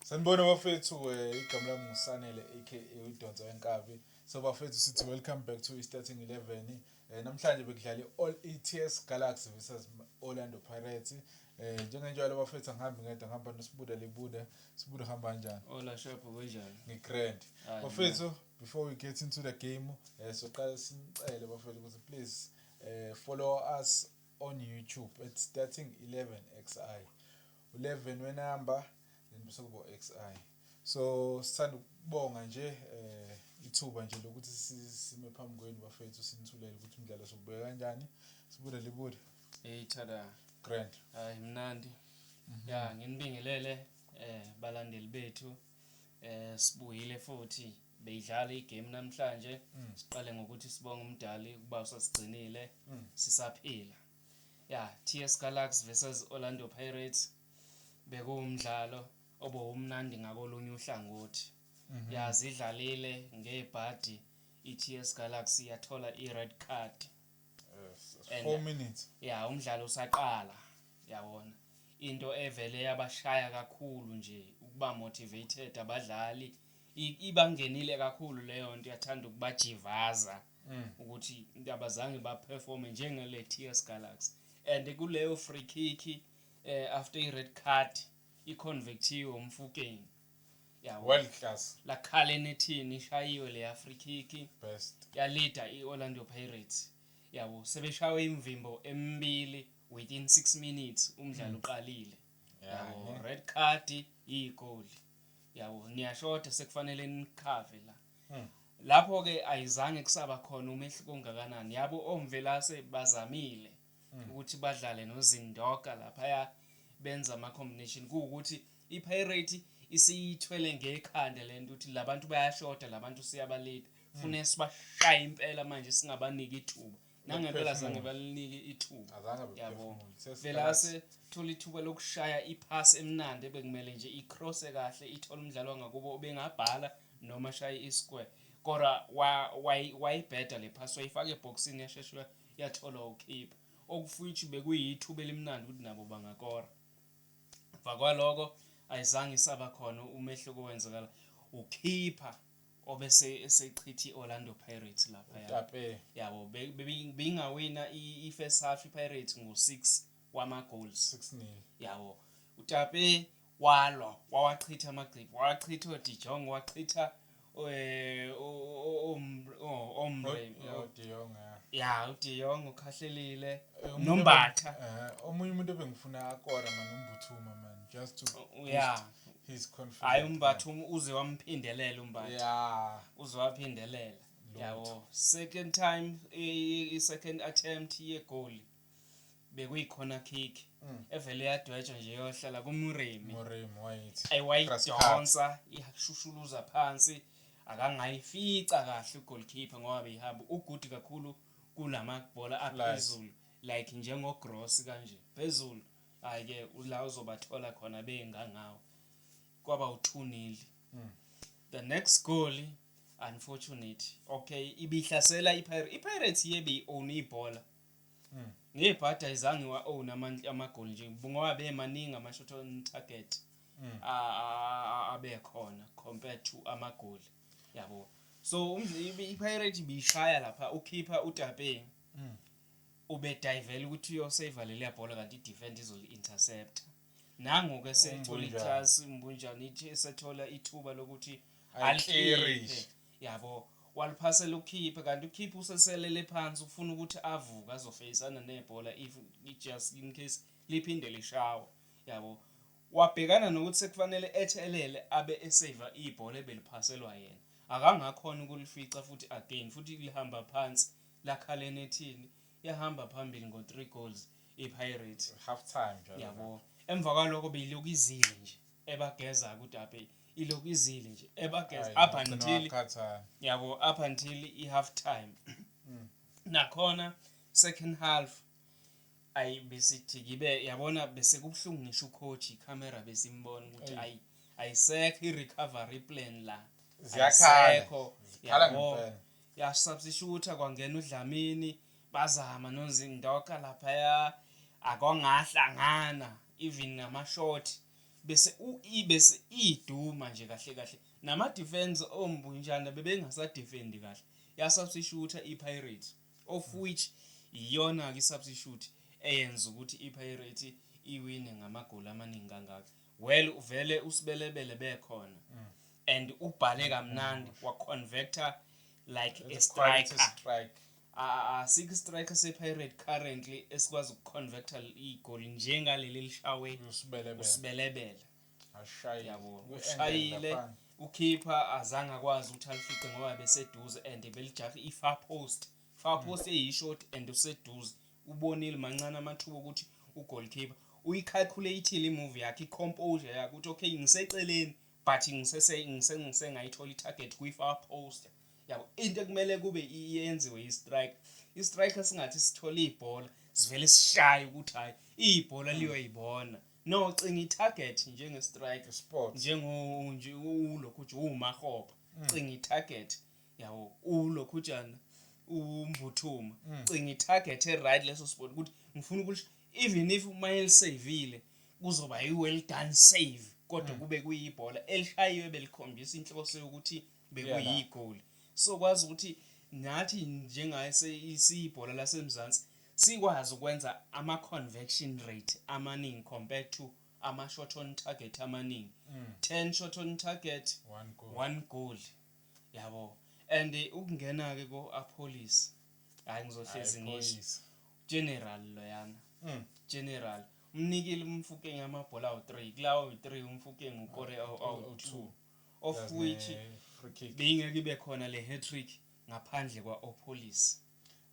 Sanibona bafethu eh, igama lami nguSanele aka udonsa wenkabi so bafethu sithi welcome back to i-starting 11 eh, namhlanje bekudlale all ets galaxy versus orlando pirates eh njengenjalo bafethu angihambi ngedwa ngihamba nosibuda libuda sibuda hamba kanjani ola shop kunjani ngigrand bafethu before we get into the game eh soqala simcele bafethu ukuthi please eh follow us on YouTube at starting 11xi u11 we number then bese kubo xi so sithanda ukubonga nje eh ithuba nje lokuthi sime phambi kwenu bafethu sinithulele ukuthi umdlalo sokubeka kanjani sibude libude hey tada grand hayi mnandi mhm. ya nginibingelele eh balandeli bethu Eh sibuyile futhi beyidlala igame namhlanje mm. siqale ngokuthi sibonge umdali ukuba usasigcinile mm. sisaphila ya TS Galax versus Orlando Pirates bekuwumdlalo obowumnandi ngakolunye uhlangothi mhm. ya zidlalile ngebhadi iTS Galaxy yathola ired card And- 4 minutes ya umdlalo usaqala yabona into evele yabashaya kakhulu nje ukuba motivated abadlali I- ibangenile kakhulu leyo nto yathanda ukubajivaza Mm. ukuthi abazange baperforme njengele TS Galaxy and kuleyo free kick eh after i red card iconvectiwe umfukeni Yabo. world class lakhala enethini ishayiwe le free kick best yalida i-orlando pirates yabo sebeshawe imvimbo emibili within 6 minutes umdlalo uqalile yabo Yeah. red card iyigoli yabo niyashoda sekufanele nikhave la Hmm. lapho-ke ayizange kusaba khona umehluko ongakanani yabo omvelase bazamile hmm. ukuthi badlale nozindoka laphaya benza ama-combination kuwukuthi i-pirate isiyithwele ngekhanda le nto ukuthi la bantu bayashoda la bantu siyabalida fune hmm. sibashaye impela manje singabaniki ithuba nangempela zange balinike ithuba yabo phela ase thola ithuba lokushaya iphasi emnandi ebekumele nje icrosse kahle ithola umdlalo wangakubo ubengabhala noma shaye isquare kodwa wayibheda le phasi wayifaka ebhokisini yashesha yatholwa wuKeeper, okufuitshi bekuyithuba elimnandi ukuthi nabo bangakora. Mva kwaloko ayizange isaba khona umehluko wenzekala uKeeper obese esechitha i-Orlando Pirates lapha Utape. yabo be- be- beyingawina i- i-first half i-Pirates ngo-6 wama-goals 6 nil yabo utape walwa wawachitha amagqibi wawachitha odijong wachitha eh, omre ya udijong ukhahlelile nombatha eh, omunye umuntu ebengifuna akora mani umbuthuma mani just to oh, yeah his confidence hayi umbathuma uze wamphindelela umbatha yeah uze waphindelela yabo second time i second attempt ye goal bekuyikhona kick mm. evele yadwetshwa nje yohlala kumurimi ayidonsa ishushuluza phansi akangayifica kahle ugoalkeeper ngoba beyihamba ugudi kakhulu kunamabhola aphezulu like njengogross kanje phezulu hhayi-ke la uzobathola khona bengangawo kwaba uthunile mm. the next goal unfortunate okay ibihlasela ipirates ipirates yebe i-own ibhola mm. ngebhadi ayizange wa-own amagoli nje ngoba bemaningi ama-shot on target mm. abekhona compared to amagoli yabo so ipirate ibiyishaya lapha ukhipha utapeng mm. ubedivela ukuthi uyosave leliya bhola kanti idefend izoli-interceptor Nangu-ke esethola iklasi uMbunjana ithi esethola ithuba lokuthi alikhiphe yabo waliphasela ukhiphe kanti ukhiphe useselele phansi ufuna ukuthi avuke azofeyisana nebhola if just in case liphinde lishawa yabo wabhekana nokuthi sekufanele ethelele abe eseva ibhola ebeliphaselwa yena akangakhona ukulifica futhi again futhi lihamba phansi lakhaleni ethini yahamba phambili ngo-three goals ipirates half time njalo yabo emva kwaloko beyilokhu izile nje ebageza kudabe ilokhu izile nje ebageza up until yabo up until i half time hmm. nakhona second half ayi besithi kibe yabona bese kubuhlungu ngisho ucoach icamera besimbona ukuthi ayi ayisekho i-recovery plan la ziyakhala yabo yasubstitute kwangena udlamini Bazama nozindoka laphaya akongahlangana even ngamashort bese uyi bese iduma nje kahle kahle nama defense ombunjana bebengasa defend kahle ya substitute iPirates of which iyona ke substitute eyenza ukuthi iPirates iwine ngamagoli amaningi kangaka well uvele usibelebele bekhona mm. and ubhale kamnandi waconvector like a striker Asikho istriker sePirate currently esikwazi ukuconverta igoli njengaleli elishawe uSibelebele. Yabo ushayile ukhipha azange akwazi ukuthi alifice ngoba beseduze and belijahe i-far post. Far mm. post eyishort and useduze. Ubonile mancane amathuba ukuthi ugoalkeeper uyicalculate-ile imovie yakhe, i-composure yakhe ukuthi okay ngiseceleni but ngisese ngisengise ngayithola itarget kwi far post yabo into ekumele kube iyenziwe i strike i strike singathi sithola ibhola sivele sishaye ukuthi hayi ibhola liyoyibona no cinga i target njenge strike sport njengo nje ulokhu nje umahoba mm. cinga i target yabo ulokhujana umbuthuma mm. cinga itarget eright leso sport ukuthi ngifuna ukuthi even if uma elisavile kuzoba yi-well done save kodwa mm. kube kuyibhola elishayiwe belikhombisa inhloso yokuthi bekuyigoli so kwazi ukuthi nathi njengaye siyibhola lasemzansi sikwazi ukwenza ama-convection rate amaningi compared to ama-short on target amaningi mm. 10 short on target one goal, one goal. yabo and ukungena ke ko apolice hayi ngizohlezi ngisho general loyana mm. general umnikile umfukeng amabhola awu-3 kulawo yi-3 umfukeng ukore awu-2 of which beyingeke ibe khona le hat-trick ngaphandle kwa-opolice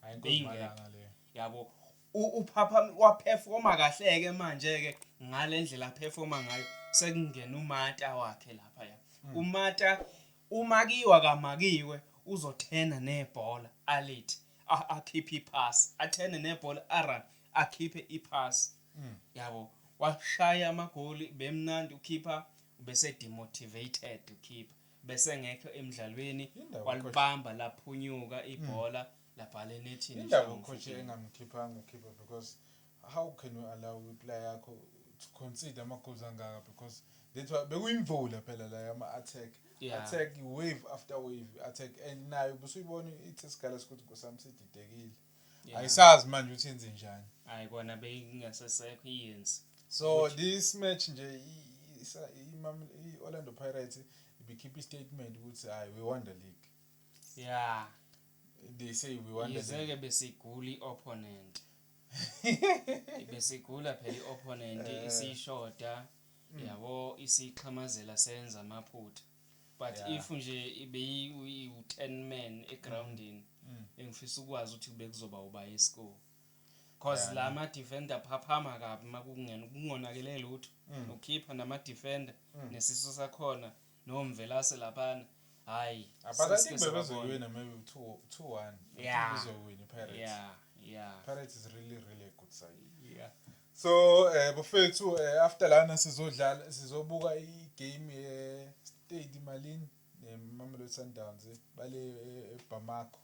Hayi inkosi Beyingekho. malanga le. yabo U- uphapha waphefoma kahle-ke manje-ke ngale ndlela aphefoma ngayo sekungena umata wakhe lapha ya umata umakiwa kamakiwe uzothena nebhola alithi a- akhiphe iphasi athene nebhola aran akhiphe iphasi yabo washaya amagoli bemnandi ukhipha bese demotivated ukhipha besengekho emdlalweni Yindawo walibamba laphunyuka ibhola labhala enethini Indawo Shangu ucoach Mfukeni. engamkhiphanga ukhipha because how can you allow iplayer yakho to concede ama-goals angaka because that's why bekuyimvula phela la yama-attack. Yeah. Attack wave after wave attack and nayo busuyibona ithi sigala sikuthi Nkosi yami sididekile. Yeah. ayisazi manje ukuthi yenze njani hayi kona beyingasesekho iyenzi so this match nje i- isa- iMam- i-orlando pirates ibikhipha istatement ukuthi hayi we won the league ya they say we won the league yize-ke besigula i-opponent besigula phela i-opponent Eh. isishoda yabo isixhamazela senza amaphutha but yeah. if nje beyiwu-ten man egroundini mm. mm. bengifisa ukwazi ukuthi bekuzoba uba escore cause yeah, la ma-defender phaphama kabi uma kungonakele lutho mm. ukhipha nama-defender mm. nesiso sakhona nomvelase laphana hhayi bebezoyiwina maybe two, two one yeah. bezoyiwina ipirates yeah. yeah. pirates is really really a good side yeah. so eh bafethu eh, after lana sizodlala sizobuka igame ye-stade malini nemamelodi sundowns eh, bale eh, ebamako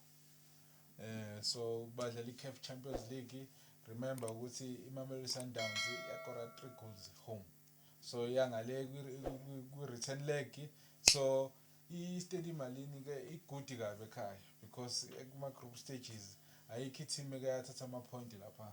eh so badlala i-caf champions league remember ukuthi imamelodi sundowns yakora three goals home so yangale kwi-return leg so i-stade imalini ke igudi kabi ekhaya because kuma-group stages ayikho i-team ekayathatha ama-point lapha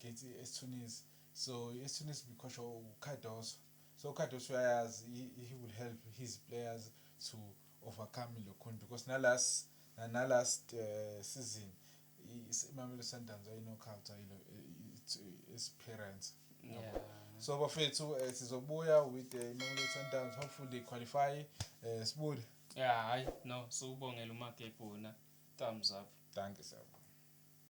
gets istunis so istunis bikhoshwa ucardoso so ucardoso uyayazi he will help his players to overcome lokhuni because nalas nalast uh, eh, season imamelo sundowns ayinokhout ayilo experience yeah. so bafethu eh, sizobuya with eh, imamelo sundowns hopefully they qualify uh, sibude ya hayi no siwubongela umagebhuna thumbs up danke siyabonga